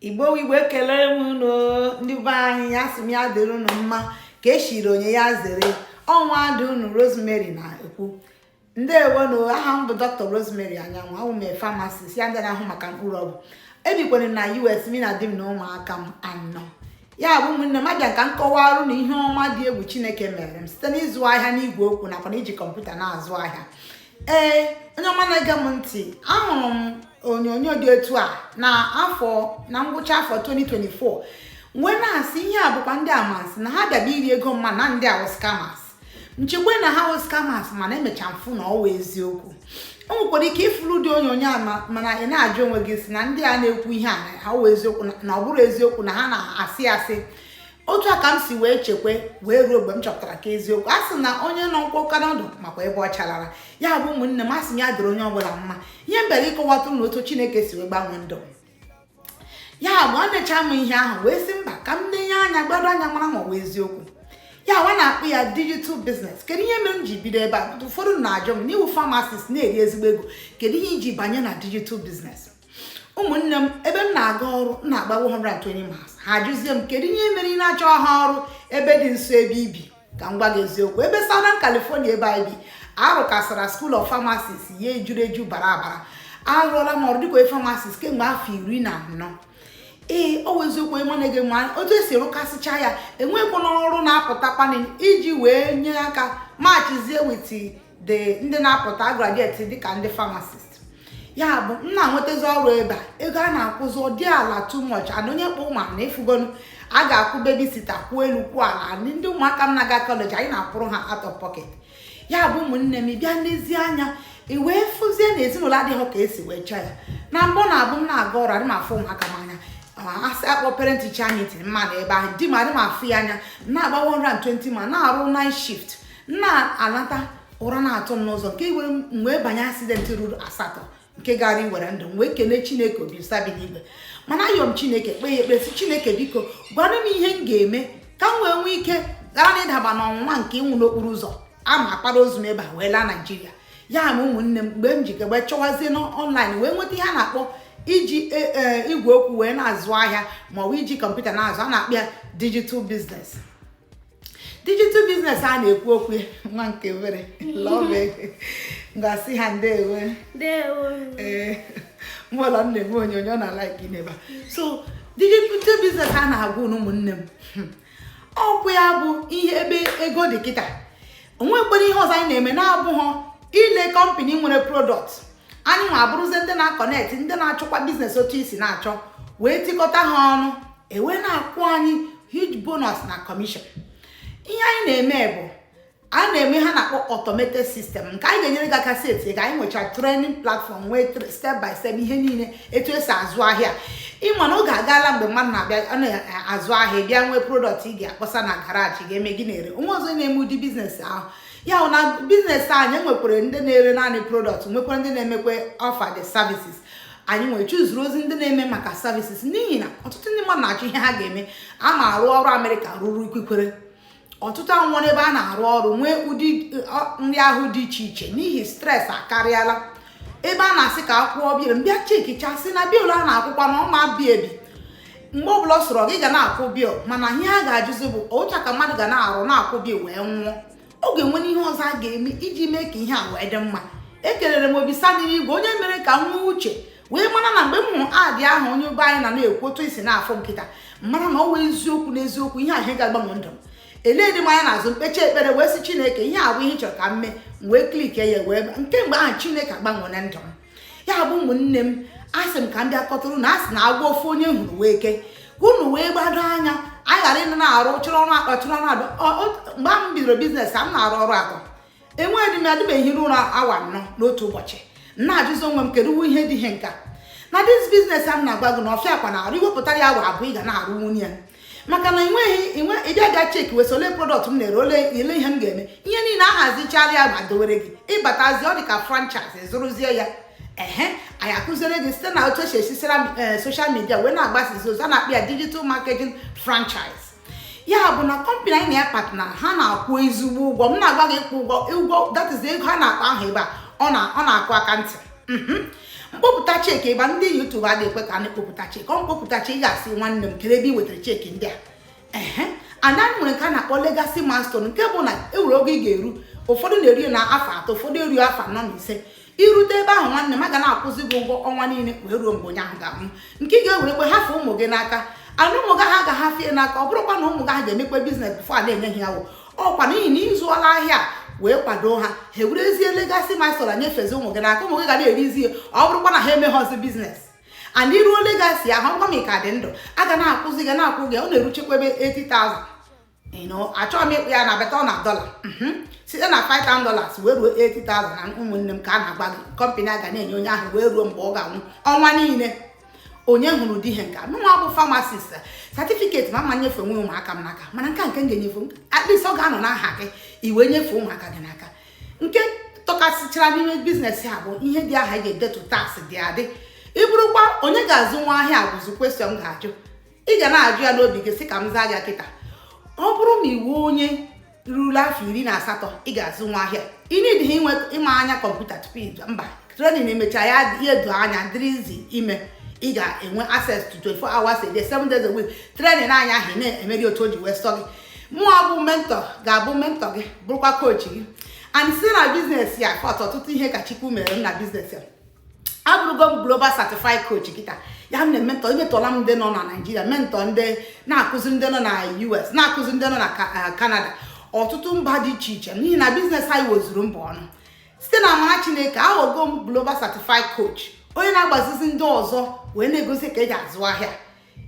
igbo igbo ekelere m unu ndị be anyị asị m ya dịrị unu mma ka echiri onye ya zere ọ nwada unu rosemary na-ekwu ndewo nụ aha m bụ dr rosemary anyanwụ awụ m pharmacist ya ndị na-ahụ maka mkpụrụ ọgwụ ebikwara na us mi na di m na ụmụaka m anọ ya bụ ụmụnne m abịa ka m kọwara unu ihe ọma dị egwu chineke mere m site n'ịzụ ahịa n'igwe okwu nakwa na iji kọmputa na-azụ ahịa ee onye ọma na-ege m ntị ahụrụ m onyonyo dị etu a na afọ na ngwụcha afọ 2024 wee na-asị ihe a bụkwa ndị amasị na ha bịaba iri ego mma na ndị a wụ scammers m chekwe na ha wụ scammers mana emecha m fụ na ọ wụ eziokwu o nwekwara ike ị fụrụ ụdị onyonyo a mana ị na-ajụ onwe gị sị na ndị a na-ekwu ihe a na ọ wụ eziokwu na ọ bụrọ eziokwu na ha na-asị asị otu a ka m si wee chekwe wee ruo mgbe m chọpụtara ka eziokwu a sị na onye nọ mkpọka n'ọdụ makwa ebe ọ chalara ya bụ ụmụnne m asị m ya dịrị onye ọbụla mma ihe m bịara ịkọwatụ unu otu chineke si wee gbanwee ndụ ya bụ enecha m ihe ahụ wee sị mba ka m nenye anya gbado anya mara ma ọ bụ eziokwu ya nwa na-akpọ ya digital business kedu ihe mere m ji bido ebe a ụfọdụ na-ajụ m na ị wụ pharmacist na-eri ezigbo ego kedu ihe i ji banye na digital business ụmụnne m ebe m na-aga ọrụ m na-agba 120 miles ha ajụzie m kedu ihe mere ị na-achọha ọrụ ebe dị nso ebe i bi ka m gwa gị eziokwu ebe Southern California ebe anyị bi arụkasara School of Pharmacists ya ejuru eju bara abara arụọla m ọrụ dịka pharmacist kemgbe afọ iri na anọ ee ọ wụ eziokwu onye ọma na-ege m otu e si rụkasịcha ya enweghịkwanụ ọrụ na-apụtakwanụ iji wee nye aka matchizie with ndị na-apụta graduate dịka ndị pharmacist ya bụ m na-enwetazi ọrụ ebe a ego a na-akwụzi ọ dị ala too much and onye kpọ ụmụ na ị fụgonụ a ga-akwụ babysitter kwụ elu kwụ ala and ndị ụmụaka m na-aga kọleji anyị na-akwụrụ ha out of pocket ya bụ ụmụnne m bịa nezie anya i wee fụzie na ezinụlọ adịghị ka e si wee chọọ ya na mbụ na abụ m na-aga ọrụ adị m afụ ụmụaka m anya a sị a kpọọ parent teacher meeting m ma-adị ebe ahụ di m adị m afụ ya anya m na-agba 120 ma na-arụ night shift na-alata ụra na-atụ m n'ụzọ nke mere m wee banye accident ruru asatọ nke gaara iwere ndụ m wee kelee chineke ọbasị bi n'igwe mana ayọ m chineke kpee ya ekpe sị chineke biko gwara m ihe m ga-eme ka m wee nwee ike ghara na ịdaba n'ọnwụnwa nke ịnwụ n'okporo ụzọ a ma akpara ozu m ebe a wee laa naijiria ya bụ ụmụnne m mgbe m ji wee chọwazie n'online wee nweta ihe a na-akpọ iji e, e, igwe okwu wee na-azụ ahịa ma ọ bụ iji kọmputa na-azụ a na-akpọ ya digital business digital business a na-ekwu okwu nwa nke obere love m ga-asị ha ndewo ee mụlọ nne m onyonyo na like n'ebe a so digital business a na-agwa unu ụmụnne m hmm. ọkwa ya bụ ihe ebe ego dị kịta onwekwere ihe ọzọ anyị na-eme na-abụghị ile kọmpani nwere prodọkt anyị nwa abụrụzie ndị na-akọnekt ndị na-achọkwa biznes otu esi na-achọ wee tikọta ha ọnụ ewee na-akwụ anyị huge bonus na kọmishọn ihe anyị na-eme bụ a na-eme ihe a na-akpọ automated sistem nke anyị ga-enyere gị aka seti ka anyị nwechara training platform nwee step by step ihe niile etu esi azụ ahịa ịma na oge agaala mgbe mmadụ na-abịa na-azụ ahịa bịa nwee prodọkt ị ga-akpọsa na garaji ga-eme gị na-ere onweghọzi na-eme ụdị biznes ahụ ya bụ na biznes anyị nwekwara ndị na-ere naanị prodọkt nwekwara ndị na-emekwa offer the services anyị nwere chuzuru ozi ndị na-eme maka services n'ihi na ọtụtụ ndị mmadụ na-achọ ihe ha ga-eme a ma arụ ọrụ amerịka ruru ikwikwere ọtụtụ anwụọla ebe a na-arụ ọrụ nwee ụdị nrịa ahụ dị iche iche n'ihi stres akarịala ebe a na-asị ka akwụọ bill m bịa chekichasịa na bill a na-akwụkwa na ọ ma bi ebi mgbe ọbụla ọ sọrọ gị ị ga na-akwụ bill mana ihe a ga-ajụzi bụ otu a ka mmadụ ga na-arụ na-akwụ bill wee nwụọ ọ ga-enwe ihe ọzọ a ga-eme iji mee ka ihe a wee dị mma ekelere m ọbasị n'eligwe onye mere ka m nwee uche wee mara na mgbe m hụrụ ad ahụ onye igbo anyị na na-ekwu otu esi na-afụ nkịta mara na ọ wụ eziokwu n'eziokwu ihe ahụ ga-agbanwe ndụ m eledịghị m anya n'azụ m kpechaa ekpere wee sị chineke ihe a bụ ihe ị chọrọ ka m mee wee klike ya wee kemgbe ahụ chineke agbanweena ndụ m ya bụ ụmụnne m asị m ka m bịa kọtụrụ unu asị na agwọ ofu onye hụrụ wụ eke ka unu wee gbado anya anyị ghara ịnọ na-arụ chụrụ ọrụ atọ chụrụ ọrụ atọ mgbe m bidoro biznes a m na-arụ ọrụ atọ enwedịghị mgbe m hiri ụra awa anọ n'otu ụbọchị na-ajụzi onwe m kedu uwe ihe dị ihe nka na dis biznes a m na-agwa gị na ọ fịakwa n'arụ iwepụtara ya awa abụọ ị ga na-arụnwu ya maka na enweghị inwe ịbịa ga cheki wee sị ole prodọkt m na-ere ole ele ihe m ga-eme ihe niile ahazichara ya ma dowere gị ịbatazi ọ dị ka franchise zụrụzie ya ehe anyị akụziere gị site na otu esi esisira soshal midia wee na-agbasizi ozi a na-akpọ ya digital marketing franchise ya bụ na kọmpanị anyị na ya partner ha na-akwụ ezigbo ụgwọ m na-agwa gị ịkwụ ụgwọ ụgwọ that is ego ha na-akpa ahụ ebe a ọ na-akụ aka ntị mhm. m kpọpụta cheki ebe ndị youtube adịghị ekwe ka a na-akpọpụta cheki ọ m kpọpụta cheki ị ga-asị nwanne m kedu ebe ị wetara cheki ndị a ehe and anyị nwere nke a na-akpọ legasi milestone nke bụ na enwere oge ị ga-eru ụfọdụ na-eru ya na afọ atọ ụfọdụ eruo afọ anọ na ise irute ebe ahụ nwanne m a ga na-akwụzi gị ụgwọ ọnwa niile wee ruo mgbe onye ahụ ga-anwụ nke ị ga-ewerekwe hafe ụmụ gị n'aka and ụmụ gị ha ga-ahafe ya n'aka ọ bụrụkwa na ụmụ gị ha ga-emekwa biznes bifo a na-enye ha ya o ọkwa n'ihi na ịzụọla ahịa wee kwado ha ha ewerezie legasị milestone nyefezi ụmụ gị n'aka ụmụ gị ga na-erizi ya ọ bụrụkwa na ha emeghọzi biznes and iruo legasi ahụ ọgwa m ka dị ndụ a ga na-akwụzi gị na-akwụ gị ọ na-eruchekwa ebe 80,000 achọghị m ịkpọ ya na beta na dọla mhm. site na 5,000 dollars wee ruo 80,000 na ụmụnne m ka m na-agwa gị kọmpanị a ga na-enye onye ahụ wee ruo mgbe ọ ga-anwụ ọnwa niile onye hụrụ ụdị ihe nke a mụnwa bụ famasist satifiketi m ama m enyefenwu ụmụaka m n'aka mana nke a nke m ga-enyefe at least ọ ga-anọ n'aha gị i wee nyefee ụmụaka gị n'aka nke tọkasịchara n'ime biznes a bụ ihe dị aha ga-edetu tax dị adị ị bụrụkwa onye ga-azụnwu ahịa a bụzi question ị ga-ajụ ị ga na-ajụ ya n'obi gị sị ka m zaa gị kịta ọ bụrụ na ị wụ onye ruru afọ iri na asatọ ị ga-azụnwu ahịa ị needighị inwe ịma anya kọmputa tupu ije mba trenin emecha ya ihe edo anya dịrị easy ime ị ga-enwe access to 24 hours a day 7 days a week trenin anya ahụ na-eme gị otu o ji wee sọ gị mụnwa bụ mentọ ga-abụ mentọ gị bụrụkwa kochi gị and si na biznes a fụta ọtụtụ ihe ka Chukwu mere m na biznes a abụrụgo m global certified coach kịta ya m na-ementọ ementọla m ndị nọ na naijiria mentọ ndị na-akụziri ndị nọ na us na-akụziri ndị nọ na kanada eh, ọtụtụ mba dị iche iche n'ihi na biznes anyị wezuru mba ọnụ site na amara chineke aghọgo m global certified coach onye na-agbazizi ndị ọzọ wee na-egosi ka eji azụ ahịa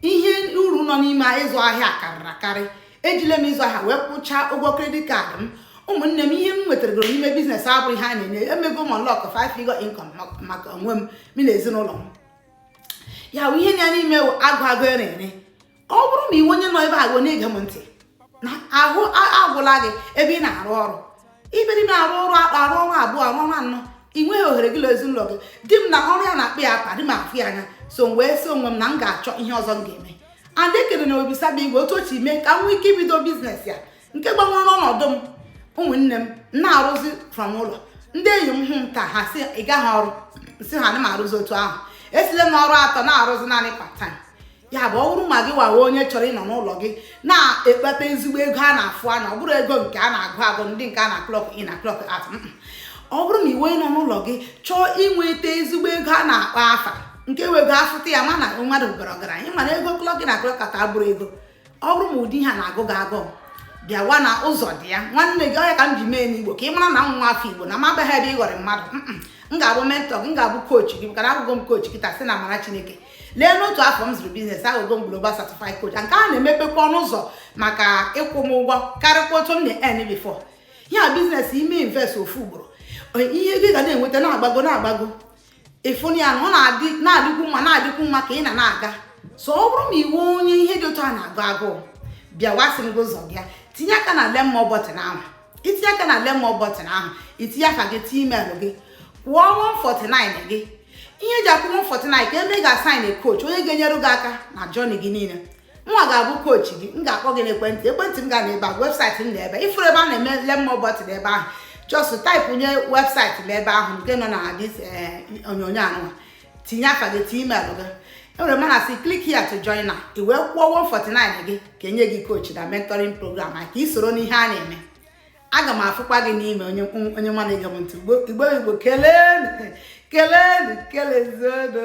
ihe uru nọ n'ime ịzụ ahịa karịrị akarị ejile m ịzụ ahịa wee kwụchaa ụgwọ kredit kaadị m ụmụnne m ihe m nwetagoro n'ime biznes abụrọ ihe a na-enye emego m unlock 5 figure income maka onwe m m na ezinụlọ m ya bụ ihe na ya n'ime agụ agụ ere ere ọ bụrụ na ị wụ onye nọ ebe ahụ na-ege m ntị na ahụ agwụla gị ebe ị na-arụ ọrụ ibe dị na-arụ ọrụ akpa arụ ọrụ abụọ arụ ọrụ anọ ị nweghị ohere gị na ezinụlọ gị di m na ọrụ ya na-akpa ya akpa adị m afụ ya anya so m wee sị onwe m na m ga-achọ ihe ọzọ m ga-eme and ekene m Obasi bi n'igwe otu o ji mee ka m nwee ike ibido biznes ya nke gbanwere ọnọdụ m ụmụnne m na-arụzi from ụlọ ndị enyi m hụ m taa ha sị ị gaghị ọrụ sị ha na m arụzi otu ahụ esile m ọrụ atọ na-arụzi naanị part time ya bụ ọ bụrụ ma gịwa wụ onye chọrọ ịnọ n'ụlọ gị na-ekpata ezigbo ego a na-afụ anya ọ bụrọ ego nke a na-agụ agụ ụdị nke a na clock in na clock out ọ bụrụ na i wee nọ n'ụlọ gị chọọ inweta ezigbo ego a na-akpọ afa nke wụ ego afụta ya ma na mmadụ bara ọgaranya ị ma na ego clock in na clock out abụrọ ego ọ bụrụ ma ụdị ihe a na-agụ gị agụụ bịawa na ụzọ dị ya nwanne gị ọ ya ka m ji mee n'igbo ka ị mara na m wụ nwa afọ igbo na m abịaghị ebe a ịghọri mmadụ m ga-abụ mentọ gị m ga-abụ koochi gị maka na abụgo m koochi kịta si na amara chineke lee n'otu afọ m zụrụ biznes aghọgo m global certified coach nke a na-emepekwa ọnụ ụzọ maka ịkwụ m ụgwọ karịkwa otu m na-earn before ya biznes i mee invest ofu ugboro ihe gị ga na-enweta na-agbago na-agbago ị fụnụ ya na ọ na-adịkwu mma na-adịkwu mma ka ị na na-aga so ọ bụrụ na ị wụ onye ihe dị otu a na-agụ agụụ bịawa asị m gị ụzọ dị ya tinye aka na learn more button ahụ i tinye aka na learn more button ahụ i tinye aha gị tinye email gị kwụọ 149 gị ihe e ji akwụ 149 ka e mee gị assign coach onye ga-enyere gị aka na journey gị niile nwa ga-abụ coach gị m ga-akpọ gị n'ekwentị ekwentị m ga na ebe a website m na ebe ị fụrụ ebe a na-eme learn more button ebe ahụ just type nye website m ebe ahụ nke nọ na this eh, onyonyo anụwa tinye afa gị tinye email gị enwere mana si click here to join now i wee kwụọ 149 gị ka enye gị coaching na mentoring program a ka ị soro n'ihe a na-eme aga m afụkwa gị n'ime onye onye nwa na-ege m ntị igbo igbo kelee kelee kelezienụ